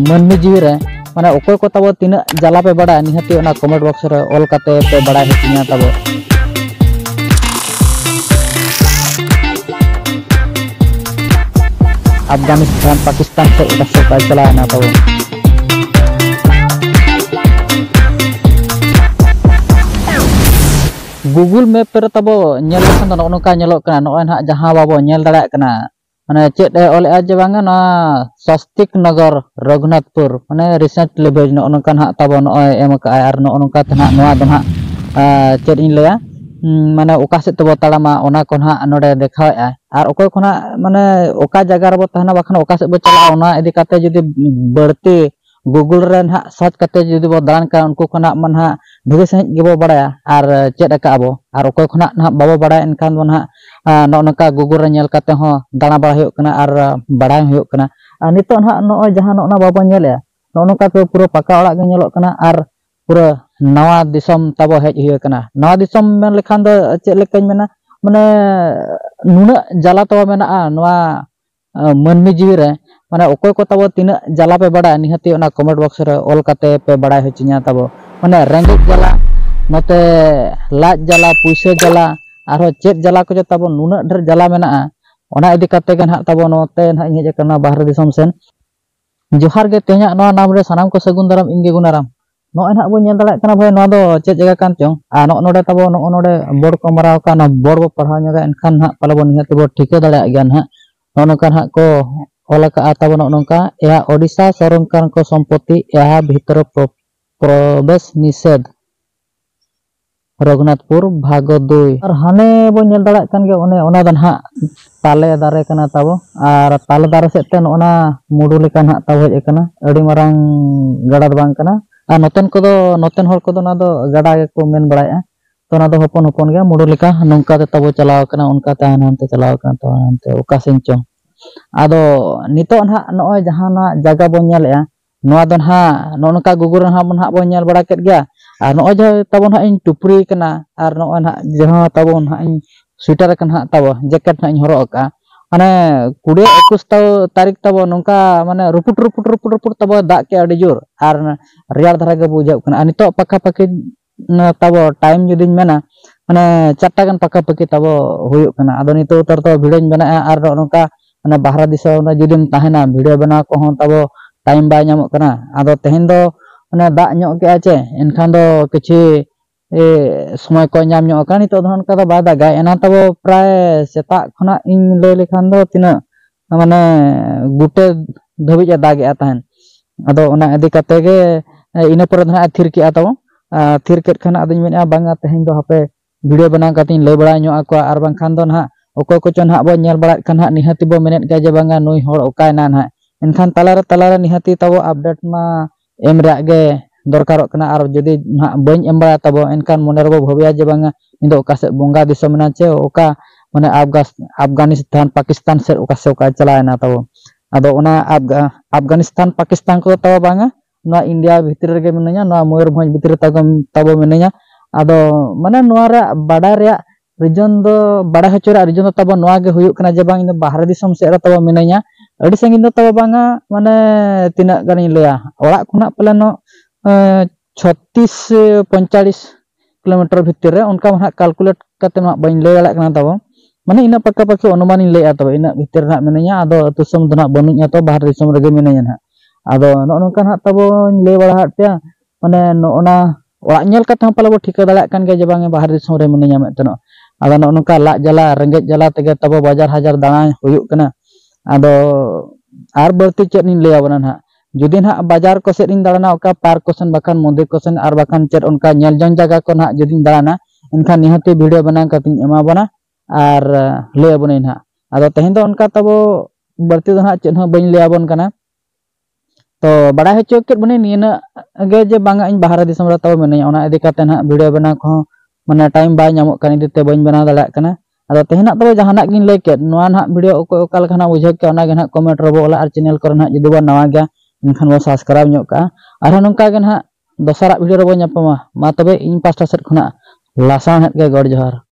ᱢᱟᱹᱱᱢᱤ ᱡᱤᱣᱤ ᱨᱮ ᱢᱟᱱᱮ ᱚᱠᱚᱭ ᱠᱚ ᱛᱟᱵᱚ ᱛᱤᱱᱟᱹᱜ ᱡᱟᱞᱟ ᱯᱮ ᱵᱟᱲᱟᱭᱟ ᱱᱤᱦᱟᱹᱛᱤ ᱚᱱᱟ ᱠᱚᱢᱮᱱᱴ ᱵᱚᱠᱥ ᱨᱮ ᱚᱞ ᱠᱟᱛᱮ ᱯᱮ ᱵᱟᱲᱟᱭ ᱦᱚᱪᱚᱧᱟ ᱛᱟᱵᱚ ᱟᱯᱷᱜᱟᱱᱤᱥᱛᱟᱱ ᱯᱟᱠᱤᱥᱛᱟᱱ ᱥᱮᱫ ᱚᱠᱟ ᱥᱮᱫ ᱵᱟᱭ ᱪᱟᱞᱟᱣᱮᱱᱟ ᱛᱟᱵᱚ ᱜᱩᱜᱩᱞ ᱢᱮᱯ ᱨᱮ ᱛᱟᱵᱚ ᱧᱮᱞ ᱞᱮᱠᱷᱟᱱ ᱫᱚ ᱱᱚᱜᱼᱚ ᱱᱚᱝᱠᱟ ᱧᱮᱞᱚᱜ ᱠᱟᱱᱟ ᱱᱚᱜᱼᱚᱭ ᱱᱟᱦᱟᱜ ᱡᱟᱦᱟᱸ ᱵᱟᱵᱚ ᱧᱮᱞ ᱫᱟᱲᱮᱭᱟᱜ ᱠᱟᱱᱟ ᱢᱟᱱᱮ ᱪᱮᱫ ᱮ ᱚᱞᱮᱫᱼᱟ ᱡᱮ ᱵᱟᱝᱟ ᱱᱚᱣᱟ ᱥᱟᱥᱛᱤᱠ ᱱᱚᱜᱚᱨ ᱨᱚᱜᱷᱩᱱᱟᱛᱷᱯᱩᱨ ᱢᱟᱱᱮ ᱨᱤᱥᱮᱱᱴ ᱞᱮᱵᱮᱞ ᱱᱚᱜᱼᱚ ᱱᱚᱝᱠᱟ ᱱᱟᱦᱟᱜ ᱛᱟᱵᱚ ᱱᱚᱜᱼᱚᱭ ᱮᱢ ᱠᱟᱜᱼᱟᱭ ᱟᱨ ᱱᱚᱜᱼᱚ ᱱᱚᱝᱠᱟ ᱛᱮ ᱱᱟᱦᱟᱜ ᱱᱚᱣᱟ ᱫᱚ ᱱᱟᱦᱟᱜ ᱪᱮᱫ ᱤᱧ ᱞᱟᱹᱭᱟ ᱢᱟᱱᱮ ᱚᱠᱟ ᱥᱮᱫ ᱛᱮᱵᱚ ᱛᱟᱲᱟᱢᱟ ᱚᱱᱟ ᱠᱚ ᱱᱟᱦᱟᱜ ᱱᱚᱰᱮ ᱫᱮᱠᱷᱟᱣᱮᱫᱼᱟᱭ ᱟᱨ ᱚᱠᱚᱭ ᱠᱚ ᱱᱟᱦᱟᱜ ᱢᱟᱱᱮ ᱚᱠᱟ ᱡᱟᱭᱜᱟ ᱨᱮᱵᱚ ᱛᱟᱦᱮᱱᱟ ᱵᱟᱠᱷᱟᱱ ᱚᱠᱟ ᱥᱮᱫ ᱵᱚ ᱪᱟᱞᱟᱜᱼᱟ ᱚᱱᱟ ᱤᱫᱤ ᱠᱟᱛᱮᱫ ᱡᱩᱫᱤ ᱵᱟᱹᱲᱛᱤ ᱜᱩᱜᱩᱞ ᱨᱮ ᱱᱟᱦᱟᱜ ᱥᱟᱨᱪ ᱠᱟᱛᱮ ᱡᱩᱫᱤ ᱵᱚ ᱫᱟᱬᱟᱱ ᱠᱟᱱᱟ ᱩᱱᱠᱩ ᱠᱷᱚᱱᱟᱜ ᱢᱟ ᱱᱟᱦᱟᱜ ᱵᱷᱟᱹᱜᱤ ᱥᱟᱺᱦᱤᱡ ᱜᱮᱵᱚ ᱵᱟᱲᱟᱭᱟ ᱟᱨ ᱪᱮᱫ ᱟᱠᱟᱫ ᱟᱵᱚ ᱟᱨ ᱚᱠᱚᱭ ᱠᱷᱚᱱᱟᱜ ᱱᱟᱦᱟᱜ ᱵᱟᱵᱚ ᱵᱟᱲᱟᱭᱟ ᱮᱱᱠᱷᱟᱱ ᱫᱚ ᱱᱟᱦᱟᱜ ᱱᱚᱜᱼᱚ ᱱᱚᱝᱠᱟ ᱜᱩᱜᱩᱞ ᱨᱮ ᱧᱮᱞ ᱠᱟᱛᱮ ᱦᱚᱸ ᱫᱟᱬᱟ ᱵᱟᱲᱟ ᱦᱩᱭᱩᱜ ᱠᱟᱱᱟ ᱟᱨ ᱵᱟᱲᱟᱭ ᱦᱩᱭᱩᱜ ᱠᱟᱱᱟ ᱟᱨ ᱱᱤᱛᱚᱜ ᱱᱟᱦᱟᱜ ᱱᱚᱜᱼᱚᱭ ᱡᱟᱦᱟᱸ ᱱᱚᱜᱼᱚ ᱱᱚᱣᱟ ᱵᱟᱵᱚ ᱧᱮᱞᱮᱫᱼᱟ ᱱᱚᱜᱼᱚ ᱱᱚᱝᱠᱟ ᱛᱮ ᱯᱩᱨᱟᱹ ᱯᱟᱠᱟ ᱚᱲᱟᱜ ᱜᱮ ᱧᱮᱞᱚᱜ ᱠᱟᱱᱟ ᱟᱨ ᱯᱩᱨᱟᱹ ᱱᱟᱣᱟ ᱫᱤᱥᱚᱢ ᱛᱟᱵᱚ ᱦᱮᱡ ᱦᱩᱭ ᱟᱠᱟᱱᱟ ᱱᱟᱣᱟ ᱫᱤᱥᱚᱢ ᱢᱮᱱ ᱞᱮᱠᱷᱟᱱ ᱫᱚ ᱪᱮᱫ ᱞᱮᱠᱟᱧ ᱢᱮᱱᱟ ᱢᱟᱱᱮ ᱱᱩᱱᱟᱹᱜ ᱡᱟᱞᱟ ᱛᱟᱵᱚ ᱢᱮᱱᱟᱜᱼᱟ ᱱᱚᱣᱟ ᱢᱟᱹᱱᱢᱤ ᱡᱤᱣᱤ ᱨᱮ ᱢᱟᱱᱮ ᱚᱠᱚᱭ ᱠᱚ ᱛᱟᱵᱚ ᱛᱤᱱᱟᱹᱜ ᱡᱟᱞᱟ ᱯᱮ ᱵᱟᱲᱟᱭᱟ ᱱᱤᱦᱟᱹᱛᱤ ᱚᱱᱟ ᱠᱚᱢᱮᱱᱴ ᱵᱚᱠᱥ ᱨᱮ ᱚᱞ ᱠᱟᱛᱮ ᱯᱮ ᱵᱟᱲᱟᱭ ᱦᱚᱪᱚᱧᱟ ᱛᱟᱵᱚ ᱢᱟᱱᱮ ᱨᱮᱸᱜᱮᱡ ᱡᱟᱞᱟ ᱱᱚᱛᱮ ᱞᱟᱡ ᱡᱟᱞᱟ ᱯᱩᱭᱥᱟᱹ ᱡᱟᱞᱟ ᱟᱨᱦᱚᱸ ᱪᱮᱫ ᱡᱟᱞᱟ ᱠᱚ ᱡᱮ ᱛᱟᱵᱚ ᱱᱩᱱᱟᱹᱜ ᱰᱷᱮᱨ ᱡᱟᱞᱟ ᱢᱮᱱᱟᱜᱼᱟ ᱚᱱᱟ ᱤᱫᱤ ᱠᱟᱛᱮ ᱜᱮ ᱱᱟᱦᱟᱜ ᱛᱟᱵᱚ ᱱᱚᱛᱮ ᱱᱟᱦᱟᱜ ᱤᱧ ᱦᱮᱡ ᱟᱠᱟᱱᱟ ᱵᱟᱦᱨᱮ ᱫᱤᱥᱚᱢ ᱥᱮᱱ ᱡᱚᱦᱟᱨ ᱜᱮ ᱛᱮᱦᱮᱧᱟᱜ ᱱᱚᱣᱟ ᱱᱟᱢ ᱨᱮ ᱥᱟᱱᱟᱢ ᱠᱚ ᱥᱟᱹᱜᱩᱱ ᱫᱟᱨᱟᱢ ᱤᱧ ᱜᱮ ᱜᱩᱱᱟᱨᱟᱢ ᱱᱚᱜᱼᱚᱭ ᱱᱟᱦᱟᱜ ᱵᱚᱱ ᱧᱮᱞ ᱫᱟᱲᱮᱭᱟᱜ ᱠᱟᱱᱟ ᱵᱷᱟᱭ ᱱᱚᱣᱟ ᱫᱚ ᱪᱮᱫ ᱡᱟᱭᱜᱟ ᱠᱟᱱ ᱪᱚᱝ ᱟᱨ ᱱᱚᱜᱼᱚ ᱱᱚᱰᱮ ᱛᱟᱵᱚ ᱱᱚᱜᱼᱚ ᱱᱚᱰᱮ ᱵᱳᱨᱰ ᱠᱚ ᱢᱟᱨᱟᱣ ᱟᱠᱟᱫ ᱚᱱᱟ ᱵᱳᱨᱰ ᱵᱚ ᱯᱟᱲᱦᱟᱣ ᱧᱚᱜᱟ ᱮᱱᱠᱷᱟᱱ ᱱᱟᱦᱟᱜ ᱯᱟᱞᱮ ᱵᱚᱱ ᱱᱤᱦᱟᱹᱛ ᱵᱚ ᱴᱷᱤᱠᱟᱹ ᱫᱟᱲᱮᱭᱟᱜ ᱜᱮᱭᱟ ᱱᱟᱦᱟᱜ ᱱᱚᱜᱼᱚ ᱱᱚᱝᱠᱟ ᱱᱟᱦᱟᱜ ᱠᱚ ᱚᱞ ᱟᱠᱟᱫᱼᱟ ᱛᱟᱵᱚ ᱱᱚᱜᱼᱚ ᱱᱚᱝᱠᱟ ᱮᱦᱟ ᱳᱰᱤᱥᱟ ᱥᱚᱨᱠᱟᱨ ᱠᱚ ᱥᱚᱢᱯᱚᱛᱤ ᱮᱦᱟ ᱵᱷᱤᱛᱚᱨ ᱯᱨᱚᱵᱮᱥ ᱱᱤᱥᱮᱫᱷ ᱨᱚᱜᱷᱩᱱᱟᱛᱷᱯᱩᱨ ᱵᱷᱟᱜᱽ ᱫᱩᱭ ᱟᱨ ᱦᱟᱱᱮ ᱵᱚ ᱧᱮᱞ ᱫᱟᱲᱮᱭᱟᱜ ᱠᱟᱱ ᱜᱮᱭᱟ ᱚᱱᱮ ᱚᱱᱟ ᱫᱚ ᱱᱟᱦᱟᱜ ᱛᱟᱞᱮ ᱫᱟᱨᱮ ᱠᱟᱱᱟ ᱛᱟᱵᱚ ᱟᱨ ᱛᱟᱞᱮ ᱫᱟᱨᱮ ᱥᱮᱫ ᱛᱮ ᱱᱚᱜᱼᱚ ᱱᱟ ᱢᱩᱰᱩ ᱞᱮᱠᱟ ᱱᱟᱦᱟᱜ ᱛᱟᱵᱚ ᱦᱮᱡ ᱟᱠᱟᱱᱟ ᱟᱹᱰᱤ ᱢᱟᱨᱟᱝ ᱜᱟᱰᱟ ᱫᱚ ᱵᱟᱝ ᱠᱟᱱᱟ ᱟᱨ ᱱᱚᱛᱮᱱ ᱠᱚᱫᱚ ᱱᱚᱛᱮᱱ ᱦᱚᱲ ᱠᱚᱫᱚ ᱚᱱᱟ ᱫᱚ ᱜᱟᱰᱟ ᱜᱮᱠᱚ ᱢᱮᱱ ᱵᱟᱲᱟᱭᱮᱫᱼᱟ ᱛᱚ ᱚᱱᱟ ᱫᱚ ᱦᱚᱯᱚᱱ ᱦᱚᱯᱚᱱ ᱜᱮᱭᱟ ᱢᱩᱰᱩ ᱞᱮᱠᱟ ᱱᱚᱝᱠᱟ ᱛᱮ ᱛᱟᱵᱚ ᱪᱟᱞᱟᱣ ᱟᱠᱟᱱᱟ ᱚᱱᱠᱟ ᱛᱮ ᱦᱟᱱᱮ ᱦᱟᱱᱛᱮ ᱪᱟᱞᱟᱣ ᱟᱠᱟᱱᱟ ᱛᱚ ᱦᱟᱱᱛᱮ ᱚᱠᱟ ᱥᱮᱱ ᱪᱚᱝ ᱟᱫᱚ ᱱᱤᱛᱚᱜ ᱱᱟᱦᱟᱜ ᱱᱚᱜᱼᱚᱭ ᱡᱟᱦᱟᱸ ᱱᱟᱦᱟᱜ ᱡᱟᱭᱜᱟ ᱵᱚᱱ ᱧᱮᱞᱮᱫᱼᱟ ᱱᱚᱣᱟ ᱫᱚ ᱱᱟᱦᱟᱜ ᱱᱚᱜᱼᱚ ᱱᱚᱝᱠᱟ ᱜᱩᱜᱩᱞ ᱨᱮᱦᱚᱸ ᱟᱵᱚ ᱱᱟᱦᱟᱜ ᱵᱚᱱ ᱧᱮᱞ ᱵᱟᱲᱟ ᱠᱮᱫ ᱜᱮᱭᱟ ᱟᱨ ᱱᱚᱜᱼᱚᱭ ᱡᱮ ᱛᱟᱵᱚ ᱱᱟᱦᱟᱜ ᱤᱧ ᱴᱩᱯᱨᱤ ᱟᱠᱟᱱᱟ ᱟᱨ ᱱᱚᱜᱼᱚᱭ ᱱᱟᱦᱟᱜ ᱡᱟᱦᱟᱸ ᱛᱟᱵᱚ ᱱᱟᱦᱟᱜ ᱤᱧ ᱥᱩᱭᱮᱴᱟᱨ ᱟᱠᱟᱱᱟ ᱱᱟᱦᱟᱜ ᱛᱟᱵᱚ ᱡᱮᱠᱮᱴ ᱱᱟᱦᱟᱜ ᱤᱧ ᱦᱚᱨᱚᱜ ᱟᱠᱟᱫᱼᱟ ᱢᱟᱱᱮ ᱠᱩᱲᱤ ᱮᱠᱩᱥ ᱛᱟᱹᱨᱤᱠᱷ ᱛᱟᱵᱚ ᱱᱚᱝᱠᱟ ᱢᱟᱱᱮ ᱨᱩᱯᱩᱴ ᱨᱩᱯᱩᱴ ᱨᱩᱯᱩᱴ ᱨᱩᱯᱩᱴ ᱛᱟᱵᱚ ᱫᱟᱜ ᱠᱮᱫᱼᱟ ᱟᱹᱰᱤ ᱡᱳᱨ ᱟᱨ ᱨᱮᱭᱟᱲ ᱫᱷᱟᱨᱟ ᱜᱮ ᱵᱩᱡᱷᱟᱹᱜ ᱠᱟᱱᱟ ᱟᱨ ᱱᱤᱛᱚᱜ ᱯᱟᱠᱷᱟ ᱯᱟᱹᱠᱷᱤ ᱛᱟᱵᱚ ᱴᱟᱭᱤᱢ ᱡᱩᱫᱤᱧ ᱢᱮᱱᱟ ᱢᱟᱱᱮ ᱪᱟᱨᱴᱟ ᱜᱟᱱ ᱯᱟᱠᱟ ᱯᱟᱠᱤ ᱛᱟᱵᱚ ᱦᱩᱭᱩᱜ ᱠᱟᱱᱟ ᱟᱫᱚ ᱱᱤᱛᱚᱜ ᱩᱛᱟᱹᱨ ᱫᱚ ᱵᱷᱤᱰᱤᱭᱳᱧ ᱵᱮᱱᱟᱜᱼᱟ ᱟᱨ ᱱᱚᱜᱼᱚ ᱱᱚᱝᱠᱟ ᱢᱟᱱᱮ ᱵᱟᱦᱨᱮ ᱫᱤᱥᱚᱢ ᱨᱮ ᱡᱩᱫᱤᱢ ᱛᱟᱦᱮᱱᱟ ᱵᱷᱤᱰᱤᱭᱳ ᱵᱮᱱᱟᱣ ᱠᱚᱦᱚᱸ ᱛᱟᱵᱚ ᱴᱟᱭᱤᱢ ᱵᱟᱭ ᱧᱟᱢᱚᱜ ᱠᱟᱱᱟ ᱟᱫᱚ ᱛᱮᱦᱮᱧ ᱫᱚ ᱢᱟᱱᱮ ᱫᱟᱜ ᱧᱚᱜ ᱠᱮᱜᱼᱟ ᱪᱮ ᱮᱱᱠᱷᱟᱱ ᱫᱚ ᱠᱤᱪᱷᱩ ᱥᱚᱢᱚᱭ ᱠᱚ ᱧᱟᱢ ᱧᱚᱜ ᱠᱟᱱᱟ ᱱᱤᱛᱚᱜ ᱫᱚ ᱚᱱᱠᱟ ᱫᱚ ᱵᱟᱭ ᱫᱟᱜᱟ ᱮᱱᱟᱱ ᱛᱟᱵᱚ ᱯᱨᱟᱭ ᱥᱮᱛᱟᱜ ᱠᱷᱚᱱᱟᱜ ᱤᱧ ᱞᱟᱹᱭ ᱞᱮᱠᱷᱟᱱ ᱫᱚ ᱛᱤᱱᱟᱹᱜ ᱢᱟᱱᱮ ᱜᱩᱴᱮ ᱫᱷᱟᱹᱵᱤᱡ ᱮ ᱫᱟᱜᱮᱜᱼᱟ ᱛᱟᱦᱮᱱ ᱟᱫᱚ ᱚᱱᱟ ᱤᱫᱤ ᱠᱟᱛᱮ ᱜᱮ ᱤᱱᱟᱹ ᱯᱚᱨᱮ ᱫᱚ ᱦᱟᱸᱜ ᱮ ᱛᱷᱤᱨ ᱠᱮᱜᱼᱟ ᱛᱟᱵᱚ ᱛᱷᱤᱨ ᱠᱮᱫ ᱠᱷᱟᱱ ᱟᱫᱚᱧ ᱢᱮᱱᱮᱜᱼᱟ ᱵᱟᱝᱟ ᱛᱮᱦᱮᱧ ᱫᱚ ᱦᱟᱯᱮ ᱵᱷᱤᱰᱤᱭᱳ ᱵᱮᱱᱟᱣ ᱠᱟᱛᱮᱧ ᱞᱟᱹᱭ ᱵᱟᱲᱟ ᱧᱚᱜ ᱟᱠᱚᱣᱟ ᱟᱨ ᱵᱟᱝᱠᱷᱟᱱ ᱫᱚ ᱱᱟᱦᱟᱜ ᱚᱠᱚᱭ ᱠᱚᱪᱚ ᱱᱟᱦᱟᱜ ᱵᱚ ᱧᱮᱞ ᱵᱟᱲᱟᱭᱮᱫ ᱠᱷᱟᱱ ᱱᱟᱦᱟᱜ ᱱᱤᱦᱟᱹᱛᱤ ᱵᱚ ᱢᱮᱱᱮᱫ ᱜᱮᱭᱟ ᱡᱮ ᱵᱟᱝᱟ ᱱᱩᱭ ᱦᱚᱲ ᱚᱠᱟᱭᱮᱱᱟ ᱱᱟᱦᱟᱜ ᱮᱱᱠᱷᱟᱱ ᱛᱟᱞᱟᱨᱮ ᱛᱟᱞᱟᱨᱮ ᱱᱤᱦᱟᱹᱛᱤ ᱛᱟᱵᱚ ᱟᱯᱰᱮᱴ ᱢᱟ ᱮᱢ ᱨᱮᱭᱟᱜ ᱜᱮ ᱫᱚᱨᱠᱟᱨᱚᱜ ᱠᱟᱱᱟ ᱟᱨ ᱡᱩᱫᱤ ᱱᱟᱦᱟᱜ ᱵᱟᱹᱧ ᱮᱢ ᱵᱟᱲᱟᱭᱟ ᱛᱟᱵᱚ ᱮᱱᱠᱷᱟᱱ ᱢᱚᱱᱮ ᱨᱮᱵᱚ ᱵᱷᱟᱹᱵᱤᱭᱟ ᱡᱮ ᱵᱟᱝᱟ ᱱᱩᱭ ᱫᱚ ᱚᱠᱟ ᱥᱮᱫ ᱵᱚᱸᱜᱟ ᱫᱤᱥᱚᱢ ᱮᱱᱟ ᱪᱮ ᱚᱠᱟ ᱢᱟᱱᱮ ᱟᱯᱷᱜᱟᱱᱤᱥᱛᱟᱱ ᱯᱟᱠᱤᱥᱛᱟᱱ ᱥᱮᱫ ᱚᱠᱟ ᱥᱮᱫ ᱚᱠᱟ ᱪᱟᱞᱟᱣ ᱮᱱᱟ ᱛᱟᱵᱚ ᱟᱫᱚ ᱚᱱᱟ ᱟᱯᱷᱜᱟᱱᱤᱥᱛᱟᱱ ᱯᱟᱠᱤᱥᱛᱟᱱ ᱠᱚ ᱛᱟᱵᱚ ᱵᱟᱝᱟ ᱱᱚᱣᱟ ᱤᱱᱰᱤᱭᱟ ᱵᱷᱤᱛᱨᱤ ᱨᱮᱜᱮ ᱢᱤᱱᱟᱹᱧᱟ ᱱᱚᱣᱟ ᱢᱚᱭᱩᱨᱵᱷᱚᱸᱡᱽ ᱵᱷᱤᱛᱨᱤ ᱨᱮ ᱛᱟᱵᱚ ᱢᱤᱱᱟᱹᱧᱟ ᱟᱫᱚ ᱢᱟᱱᱮ ᱱᱚᱣᱟ ᱨᱮᱭᱟᱜ ᱵᱟᱰᱟᱭ ᱨᱮᱭᱟᱜ ᱨᱤᱡᱚᱱ ᱫᱚ ᱵᱟᱲᱟᱭ ᱦᱚᱪᱚ ᱨᱮᱭᱟᱜ ᱨᱤᱡᱚᱱ ᱫᱚ ᱛᱟᱵᱚ ᱱᱚᱣᱟ ᱜᱮ ᱦᱩᱭᱩᱜ ᱠᱟᱱᱟ ᱡᱮ ᱵᱟᱝ ᱤᱧ ᱫᱚ ᱵᱟᱦᱨᱮ ᱫᱤᱥᱚᱢ ᱥᱮᱫ ᱨᱮ ᱛᱟᱵᱚ ᱢᱤᱱᱟᱹᱧᱟ ᱟᱹᱰᱤ ᱥᱟᱺᱜᱤᱧ ᱫᱚ ᱛᱟᱵᱚ ᱵᱟᱝᱟ ᱢᱟᱱᱮ ᱛᱤᱱᱟᱹᱜ ᱜᱟᱱᱤᱧ ᱞᱟᱹᱭᱟ ᱚᱲᱟᱜ ᱠᱷᱚᱱᱟᱜ ᱯᱟᱞᱮᱱᱚᱜ ᱪᱷᱚᱛᱨᱤᱥ ᱯᱚᱸᱭᱛᱟᱞᱞᱤᱥ ᱠᱤᱞᱳᱢᱤᱴᱟᱨ ᱵᱷᱤᱛᱤᱨ ᱨᱮ ᱚᱱᱠᱟ ᱢᱟ ᱦᱟᱸᱜ ᱠᱟᱞᱠᱩᱞᱮᱴ ᱠᱟᱛᱮ ᱢᱟ ᱵᱟᱹᱧ ᱞᱟᱹᱭ ᱫᱟᱲᱮᱭᱟᱜ ᱠᱟᱱᱟ ᱛᱟᱵᱚ ᱢᱟᱱᱮ ᱤᱱᱟᱹᱜ ᱯᱟᱠᱟ ᱯᱟᱠᱤ ᱚᱱᱩᱢᱟᱱᱤᱧ ᱞᱟᱹᱭᱮᱫᱼᱟ ᱛᱚᱵᱮ ᱤᱱᱟᱹᱜ ᱵᱷᱤᱛᱤᱨ ᱨᱮ ᱦᱟᱸᱜ ᱢᱤᱱᱟᱹᱧᱟ ᱟᱫᱚ ᱟᱹᱛᱩ ᱫᱤᱥᱚᱢ ᱫᱚ ᱦᱟᱸᱜ ᱵᱟᱹᱱᱩᱧᱟ ᱛᱚ ᱵᱟᱦᱨᱮ ᱫᱤᱥᱚᱢ ᱨᱮᱜᱮ ᱢᱤᱱᱟᱹᱧᱟ ᱦᱟᱸᱜ ᱟᱫᱚ ᱱᱚᱜᱼᱚ ᱱᱚᱝᱠᱟ ᱦᱟᱸᱜ ᱛᱟᱵᱚᱧ ᱞᱟᱹᱭ ᱵᱟᱲᱟ ᱟᱫ ᱯᱮᱭᱟ ᱢᱟᱱᱮ ᱱᱚᱜᱼᱚ ᱱᱟ ᱚᱲᱟᱜ ᱧᱮᱞ ᱠᱟᱛᱮ ᱦᱚᱸ ᱯᱟᱞᱮ ᱵᱚ ᱴᱷᱤᱠᱟᱹ ᱫᱟᱲᱮᱭᱟᱜ ᱠᱟᱱ ᱜᱮᱭᱟ ᱡᱮ ᱵᱟᱝ ᱵᱟᱦᱨᱮ ᱫᱤᱥᱚᱢ ᱨᱮ ᱢᱤᱱᱟᱹᱧᱟ ᱢᱮᱱᱛᱮ ᱱᱚᱜ ᱟᱫᱚ ᱱᱚᱜᱼᱚ ᱱᱚᱝᱠᱟ ᱞᱟᱡ ᱡᱟᱞᱟ ᱨᱮᱸᱜᱮᱡ ᱡᱟᱞᱟ ᱛᱮᱜᱮ ᱛᱟᱵᱚ ᱵᱟᱡᱟᱨ ᱦᱟᱡᱟᱨ ᱫᱟᱬᱟ ᱦᱩᱭᱩᱜ ᱠᱟᱱᱟ ᱟᱫᱚ ᱟᱨ ᱵᱟᱹᱲᱛᱤ ᱪᱮᱫ ᱤᱧ ᱞᱟᱹᱭ ᱟᱵᱚᱱᱟ ᱱᱟᱦᱟᱜ ᱡᱩᱫᱤ ᱱᱟᱦᱟᱜ ᱵᱟᱡᱟᱨ ᱠᱚ ᱥᱮᱫ ᱤᱧ ᱫᱟᱬᱟᱱᱟ ᱚᱠᱟ ᱯᱟᱨᱠ ᱠᱚ ᱥᱮᱱ ᱵᱟᱠᱷᱟᱱ ᱢᱚᱱᱫᱤᱨ ᱠᱚ ᱥᱮᱱ ᱟᱨ ᱵᱟᱠᱷᱟᱱ ᱪᱮᱫ ᱚᱱᱠᱟ ᱧᱮᱞ ᱡᱚᱝ ᱡᱟᱭᱜᱟ ᱠᱚ ᱱᱟᱦᱟᱜ ᱡᱩᱫᱤᱧ ᱫᱟᱬᱟᱱᱟ ᱮᱱᱠᱷᱟᱱ ᱱᱤᱦᱟᱹᱛᱤ ᱵᱷᱤᱰᱤᱭᱳ ᱵᱮᱱᱟᱣ ᱠᱟᱛᱮ ᱤᱧ ᱮᱢᱟ ᱵᱚᱱᱟ ᱟᱨ ᱞᱟᱹᱭ ᱟᱵᱚᱱᱟᱹᱧ ᱱᱟᱦᱟᱜ ᱟᱫᱚ ᱛᱮᱦᱮᱧ ᱫᱚ ᱚᱱᱠᱟ ᱛᱟᱵᱚ ᱵᱟᱹᱲᱛᱤ ᱫᱚ ᱱᱟᱦᱟᱜ ᱪᱮᱫ ᱦᱚᱸ ᱵᱟᱹᱧ ᱞᱟᱹᱭ ᱟᱵᱚᱱ ᱠᱟᱱᱟ ᱛᱚ ᱵᱟᱲᱟᱭ ᱦᱚᱪᱚ ᱠᱮᱫ ᱵᱚᱱᱟᱹᱧ ᱱᱤᱭᱟᱹᱱᱟᱜ ᱜᱮ ᱡᱮ ᱵᱟᱝᱟ ᱤᱧ ᱵᱟᱦᱨᱮ ᱫᱤᱥᱚᱢ ᱨᱮ ᱛᱟᱣ ᱢᱤᱱᱟᱹᱧᱟ ᱚᱱᱟ ᱤᱫᱤ ᱠᱟᱛᱮ ᱱᱟᱦᱟᱜ ᱵᱷᱤᱰᱤᱭᱳ ᱵᱮᱱᱟᱣ ᱠᱚᱦᱚᱸ ᱢᱟᱱᱮ ᱴᱟᱭᱤᱢ ᱵᱟᱭ ᱧᱟᱢᱚᱜ ᱠᱟᱱ ᱤᱫᱤ ᱛᱮ ᱵᱟᱹᱧ ᱵᱮᱱᱟᱣ ᱫᱟᱲᱮᱭᱟᱜ ᱠᱟᱱᱟ ᱟᱫᱚ ᱛᱮᱦᱮᱧᱟᱜ ᱛᱚᱵᱮ ᱡᱟᱦᱟᱱᱟᱜ ᱜᱤᱧ ᱞᱟᱹᱭ ᱠᱮᱫ ᱱᱚᱣᱟ ᱱᱟᱦᱟᱜ ᱵᱷᱤᱰᱤᱭᱳ ᱚᱠᱚᱭ ᱚᱠᱟ ᱞᱮᱠᱟ ᱱᱟᱦᱟᱜ ᱵᱩᱡᱷᱟᱹᱣ ᱠᱮᱫ ᱚᱱᱟᱜᱮ ᱱᱟᱦᱟᱜ ᱠᱚᱢᱮᱱᱴ ᱨᱮᱵᱚ ᱚᱞᱟ ᱟᱨ ᱪᱮᱱᱮᱞ ᱠᱚᱨᱮ ᱱᱟᱦᱟᱜ ᱡᱩᱫᱤ ᱵᱚᱱ ᱱᱟᱣᱟ ᱜᱮᱭᱟ ᱮᱱᱠᱷᱟᱱ ᱵᱚᱱ ᱥᱟᱵᱥᱠᱨᱟᱭᱤᱵᱽ ᱧᱚᱜ ᱠᱟᱜᱼᱟ ᱟᱨᱦᱚᱸ ᱱᱚᱝᱠᱟ ᱜᱮ ᱱᱟᱦᱟᱜ ᱫᱚᱥᱟᱨᱟᱜ ᱵᱷᱤᱰᱤᱭᱳ ᱨᱮᱵᱚᱱ ᱧᱟᱯᱟᱢᱟ ᱢᱟ ᱛᱚᱵᱮ ᱤᱧ ᱯᱟᱥᱴᱟ ᱥᱮᱫ ᱠᱷᱚᱱᱟᱜ ᱞᱟᱥᱟᱬᱦᱮᱫ ᱜᱮ ᱜᱚᱰ ᱡᱚᱦᱟᱨ